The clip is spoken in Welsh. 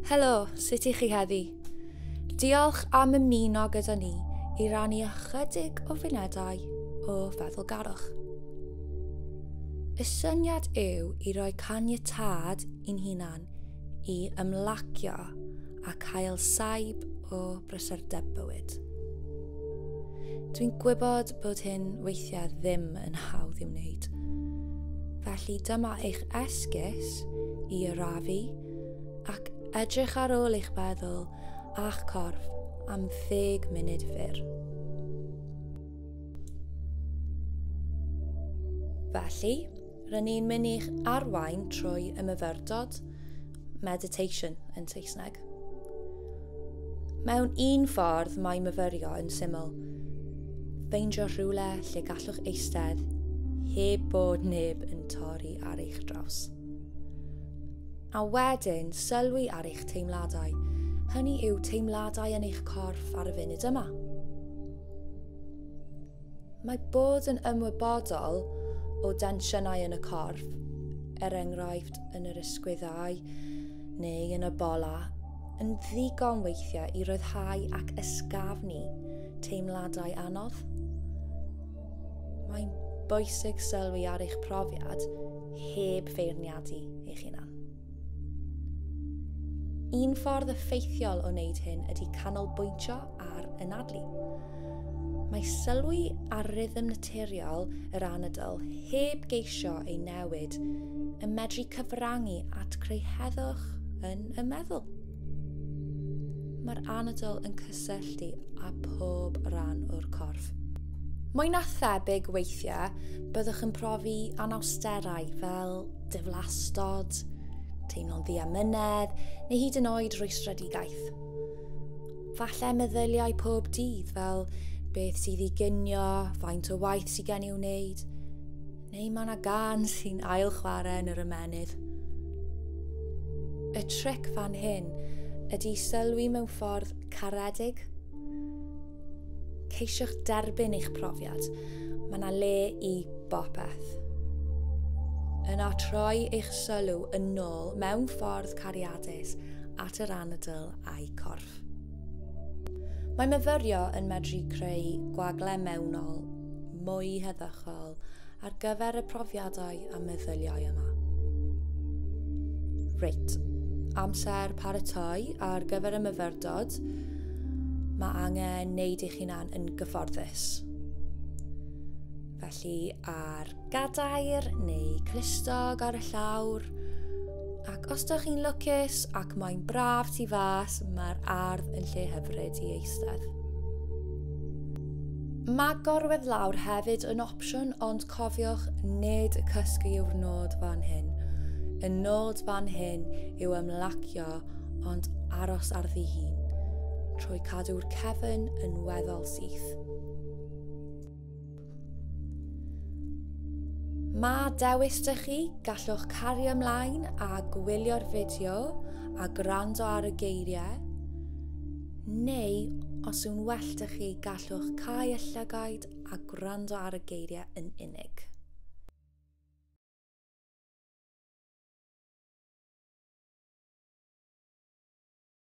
Helo, sut i chi heddi? Diolch am ymuno gyda ni i rannu ychydig o funudau o feddwlgarwch. Y syniad yw i roi caniatad i'n hunan i ymlacio a cael saib o brysurdeb bywyd. Dwi'n gwybod bod hyn weithiau ddim yn hawdd i'w wneud. Felly dyma eich esgus i arafu ac edrych ar ôl eich meddwl a'ch corff am ddeg munud fyr. Felly, Rydyn ni'n mynd i'ch arwain trwy y myfyrdod, meditation yn Saesneg. Mewn un ffordd mae myfyrio yn syml. Ffeindio rhywle lle gallwch eistedd heb bod neb yn torri ar eich draws. A wedyn sylwi ar eich teimladau. Hynny yw teimladau yn eich corff ar y funud yma. Mae bod yn ymwybodol o densiynau yn y corff, er enghraifft yn yr ysgwyddau neu yn y bola, yn ddigon weithiau i ryddhau ac ysgafnu teimladau anodd. Mae'n bwysig sylwi ar eich profiad heb feirniadu eich hunan. Un ffordd effeithiol o wneud hyn ydy canolbwyntio ar anadlu. Mae sylwi ar rythm naturiol yr anadl heb geisio ei newid yn medru cyfrannu at creu heddwch yn y meddwl. Mae'r anadl yn cysylltu â pob rhan o'r corff. Mwy na thebyg weithiau, byddwch yn profi anawsterau fel diflastod, teimlo'n ddiamynedd neu hyd yn oed rwystredigaeth. Falle meddyliau pob dydd fel beth sydd i ginio, faint o waith sydd gen i wneud, Neu mae yna gân sy'n ail chwarae yn yr ymennydd. Y tric fan hyn ydy sylwi mewn ffordd caredig. Ceisiwch derbyn eich profiad. Mae yna le i bopeth. Yna troi eich sylw yn ôl mewn ffordd cariadus at yr anadl a'i corff. Mae myfyrio yn medru creu gwagle mewnol mwy heddychol ar gyfer y profiadau a meddyliau yma. Reit, amser paratoi ar gyfer y myfyrdod, mae angen wneud eich hunan yn gyfforddus. Felly ar Gadair neu clustog ar y llawr. Ac os da chi'n lwcus ac mae'n braf tu fas, mae'r ardd yn lle hyfryd i eistedd. Mae gorwedd lawr hefyd yn opsiwn ond cofiwch nid cysgu yw'r nod fan hyn. Y nod fan hyn yw ymlacio ond aros ar ddi hun trwy cadw'r cefn yn weddol syth. Mae dewis dych chi, gallwch cario ymlaen a gwylio'r fideo a gwrando ar y geiriau, neu os yw'n well dych chi, gallwch cau y llygaid a gwrando ar y geiriau yn unig.